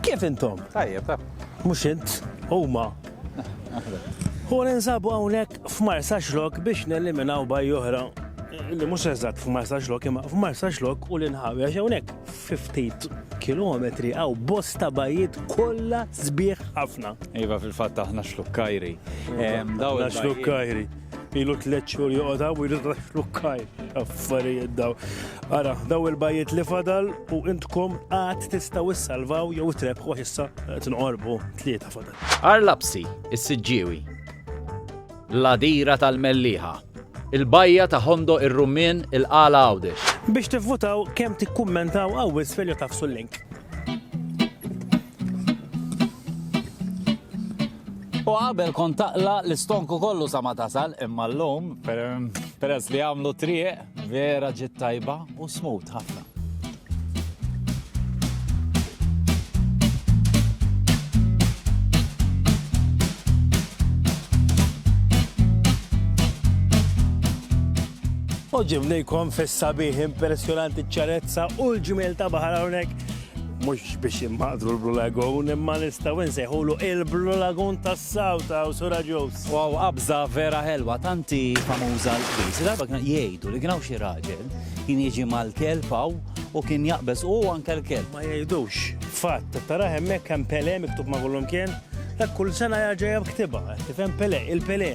Kif intom? Tajjeb, ta' mhux int, huma. U ninsabu hawnhekk f'Marsa Xlok biex neliminaw baj oħra li mhux eżatt f'Marsa Xlok imma f'Marsa Xlok u l-inħawi għax hawnhekk 50 kilometri għaw bosta bajiet kollha sbieħ ħafna. Iva fil-fatt aħna xlukkajri. Daw xlukkajri. Ilu tliet xhur joqgħod hawn u jrid flukkaj. Affarijiet daw. Ara, daw il-bajiet li fadal u intkom qatt tistgħu issalvaw jew trebħu issa tinqorbu tlieta fadal. Arlapsi, is-siġġiewi. L-adira tal-melliħa. Il-bajja ta' Hondo ir-Rummin il-Qala Għawdex. Biex tivvutaw kemm tikkummentaw għawis filju tafsu l-link. U qabel kont taqla l-istonku kollu sa ma tasal, imma l-lum, peress li għamlu triq, vera ġit tajba u smut ħafna. U ġibnejkom fis-sabiħ impressjonanti ċarezza u l-ġmiel ta' baħar hawnhekk mhux biex immaqdru l-Blue Lagoon, imma nistgħu nsejħulu il-Blue Lagoon tas-South House u Raġus. Wow, qabża vera ħelwa, tanti famuża l-qbiż. Darba kien jgħidu li kien hawn xi raġel kien jiġi mal-kelb hawn u kien jaqbeż u anke l-kelb. Ma jgħidux, fatt, tara hemmhekk hemm Pele miktub ma' kullum kien, dak kull sena jaġa' ktibha, tifhem Pele, il-Pele.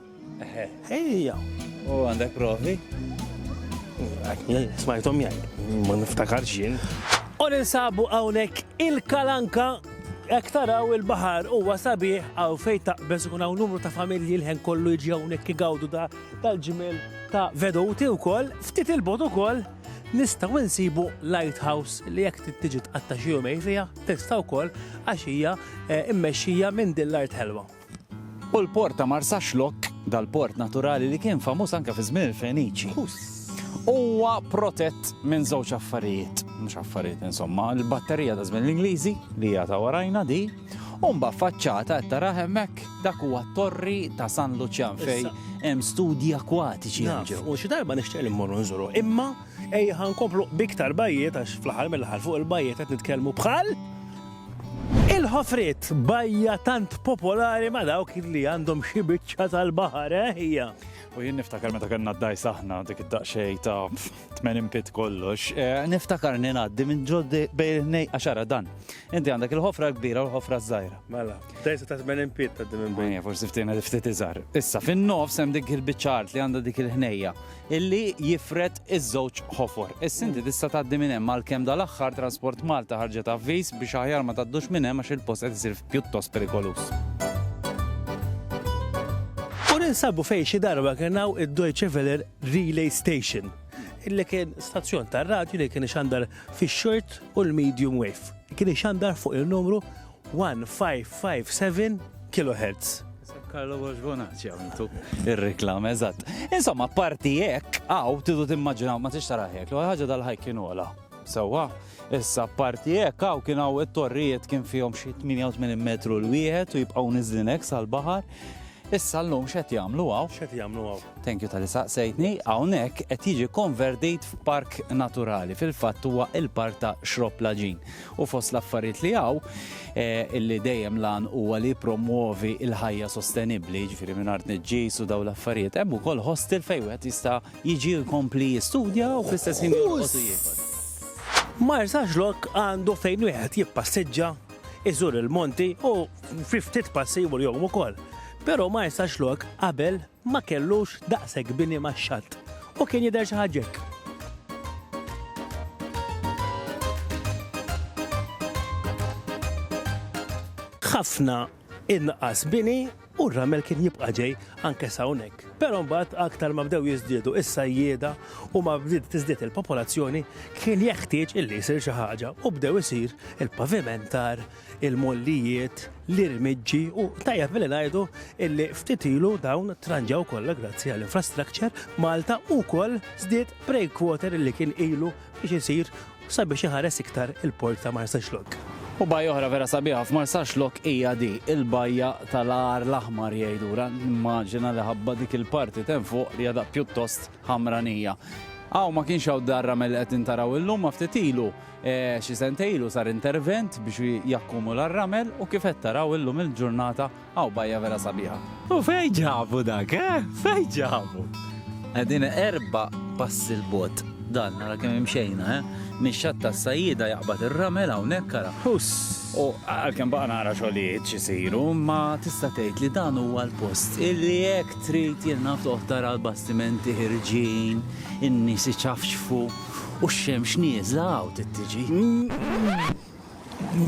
Ejja. U għandek provi? Smajtom jgħid, ma niftakarx jien. U ninsabu hawnhekk il-kalanka Ek taraw il-bahar huwa sabiħ għaw fej taqbeż u hawn numru ta' familji l-ħen kollu jiġi hawnhekk igawdu da tal-ġimel ta' veduti wkoll, ftit il-bot ukoll nistgħu nsibu lighthouse li jekk tiġi tqatta' xi jumej fiha tista' wkoll għax hija eh, immexxija minn din l-art ħelwa. U l-port ta' Marsaxlokk, dal-port naturali li kien famuż anke fi żmien il-Feniċi, huwa protett minn żewġ affarijiet, mhux affarijiet insomma, il-batterija ta' żmien l-Ingliżi li hija ta' warajna di, u mbagħad faċċata qed tara hemmhekk dak huwa t-torri ta' San Luċjan fejn hemm studji akwatiċi hemm ġew. U xi darba nixtieq li mmorru nżuru, imma ejja ħa nkomplu b'iktar bajjiet għax fl-aħħar mill-aħħar fuq il-bajjiet qed nitkellmu bħal Il-ħofriet, bajja tant popolari ma' dawk li għandhom xi biċċa tal-baħar, eh, hija. U jien niftakar meta kellna d-dgħajs aħna dik id-daqsxejn ta' 80 pit kollox, eh, niftakarni ngħaddi minn ġoddi bejn nej għaxara dan. Inti għandek il-ħofra l-kbira u l-ħofra żgħira. Mela, dgħajsa ta' 80 pit ta' din minn bejn. Ejja, forsi ftina ftit iżgħar. Issa fin-nofs hemm dik il-biċċa art li għandha dik il-ħnejja. illi jifred iż-żewġ ħofor. Is-Sinti tista' tgħaddi minn hemm għalkemm dal-aħħar Transport Malta ħarġet avviż biex aħjar ma tgħaddux minn hemm għax il-post qed isir pjuttost perikoluż. U ninsabu fejn xi darba kien hawn id-Deutsche Welle Relay Station, illi kien stazzjon tar-radju li kien ixandar fix-short u l-medium wave. Kien ixandar fuq il-numru 1557 kilohertz. Carlo Borgonazzi għamiltu ir-reklam, eżatt. Insomma, parti hekk, għaw, tidu timmaġinaw, ma tix taraħ hekk, ħaġa dal-ħajk kien ola. Sewwa, issa parti hekk hawn kien hawn it-torrijiet kien fihom xi 88 metru l wieħed u jibqgħu niżlin hekk sal-baħar. Issa llum x'qed jagħmlu hawn? X'qed jagħmlu hawn? Thank you tal-li saqsejtni, hawnhekk qed jiġi konvertit f'park naturali. Fil-fatt huwa il-park ta' Xrob Laġin. u fost l-affarijiet li hawn eh, illi dejjem lan huwa li jippromwovi l-ħajja sostenibbli, jiġifieri mingħajr tniġġis u dawn l-affarijiet. Hemm ukoll hostel fejn wieħed jista' jiġi jkompli jistudja u fl-istess ħin jorqod u jiekol. Ma jistax lok għandu fejn wieħed jippassiġġa, iżur il-monti u fi ftit passi jmur jom ukoll. Però ma jistax lok qabel ma kellux daqshekk bini max-xatt u kien jidher xi ħaġa hekk. Ħafna inqas bini u r-ramel kien jibqa' ġej anke sa hawnhekk. Però mbagħad aktar ma bdew jiżdiedu is-sajjieda u ma bdiet tiżdied il-popolazzjoni kien jeħtieġ illi jsir xi ħaġa u bdew isir il-pavimentar il-mollijiet, l-irmiġġi u tajjeb li ngħidu illi ftit ilu dawn tranġaw kollha grazzi għall infrastructure Malta wkoll żdied breakwater illi kien ilu biex isir sabiex iħares iktar il-port ta' Marsaxlokk. U bajja oħra vera sabiħa f'Marsaxlokk hija di, il-bajja tal-għar l-aħmar jgħidura, nimmaġina li ħabba dik il-parti t'hemm fuq li għadha pjuttost ħamranija. Hawn ma kienx hawn dar-ramel li qed intaraw illum ma ftit ilu Xi sentejn ilu sar intervent biex jakkumula r-ramel u kif qed taraw illum il-ġurnata hawn bajja vera sabiħa. U fejn ġabu dak, eh? Fejn ġabu? Qegħdin erba' passi 'l bogħod dan, ara kemm imxejna, eh? Mix-Xatt tas-Sajjieda jaqbad ir-ramel hawnhekk ara. Huss! U għalkemm baqa' nara xogħlijiet x'isiru, imma tista' tgħid li dan huwa l-post illi jekk trid jien naf toqgħod tara l-bastimenti ħirġin, in-nies iċafċfu. U x-xemx nieżla hawn trid tiġi.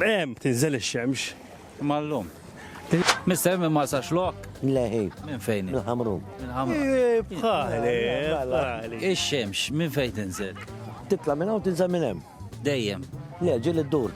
Hemm tinżel ix-xemx. Imma llum. Mister minn Marsaxlokk? Le hi. Minn fejn hi? Mill-Ħamrun. Mill-Ħamrun. Bħali, bħali. Ix-xemx minn fejn tinżel? Titla' minn hawn tinżel minn hemm. Dejjem? Le, ġieli ddur.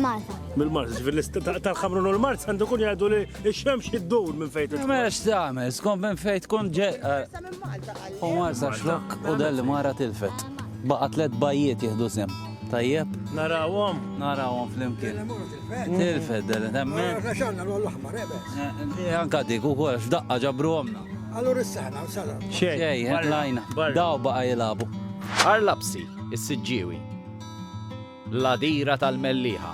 Malta. Mill-Malta, ġifir tal-ħamrun u l-Mart għandu kun jgħidu li x-xemx id-dur minn fejt. Mex tagħmel, skont minn fejt kun ġe. U Malta xlok u dalli mara tilfet. Baqa tlet bajiet jihdu sem. Tajjeb? Narawhom. Narawhom flimkien. Tilfet dalli temmen. Xanna l-aħmar, ebe. Eh, eh, anka dik ukoll x'daqqa ġabru għomna. Allura s-sena, s-sena. Xej, eh, lajna. Daw baqa jilabu. Arlapsi, is-siġġiewi. l-Għadira tal-Mellieħa,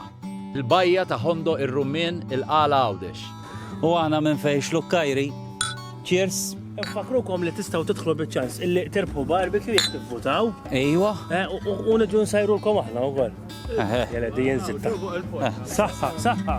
l-Bajja ta' Ħondoq ir-Rummien, il-Qala Għawdex. U aħna minn fejn Xlukkajri. Cheers! Infakkrukom li tistgħu tidħlu biċ-ċans illi tirbħu barbecue jekk tivvutaw. Ejwa. Eh, u niġu nsajrulkom aħna wkoll. Jela di jinsitta. Saħħa, saħħa.